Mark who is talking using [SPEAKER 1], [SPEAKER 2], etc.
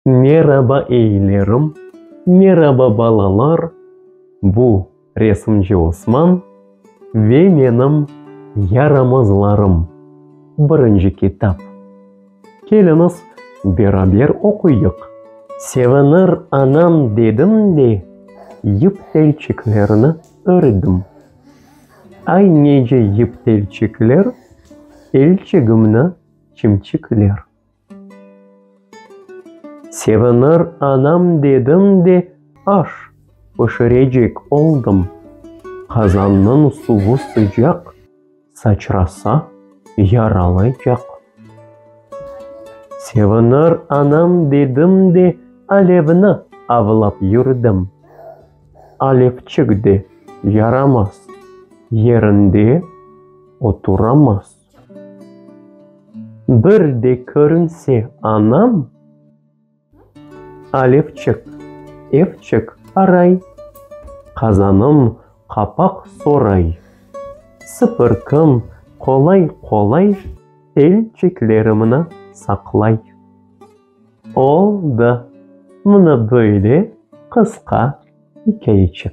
[SPEAKER 1] Meraba eylerim, meraba balalar, bu resimci Osman ve menim yaramazlarım birinci kitap. Keliñiz beraber oquyıq. Sevinir anam dedim de, yıp telçiklerini ördim. Ay nece yip telçikler, elçigimni çimçikler. Sevinir anam dedim de aş pişirecek oldım. Qazannıñ suvı sıcaq, saçrasa, yaralaycaq. Sevinir anam dedim de alevni avlap yürdim. Alevçik de yaramaz, yerinde oturamaz. Bir de körünse anam, Alevçik, evçik aray, qazanım qapaq soray. Sıpırqım qolay-qolay, elçiklerimni saqlay. Oldı, mına böyle qısqa ikâyeçik.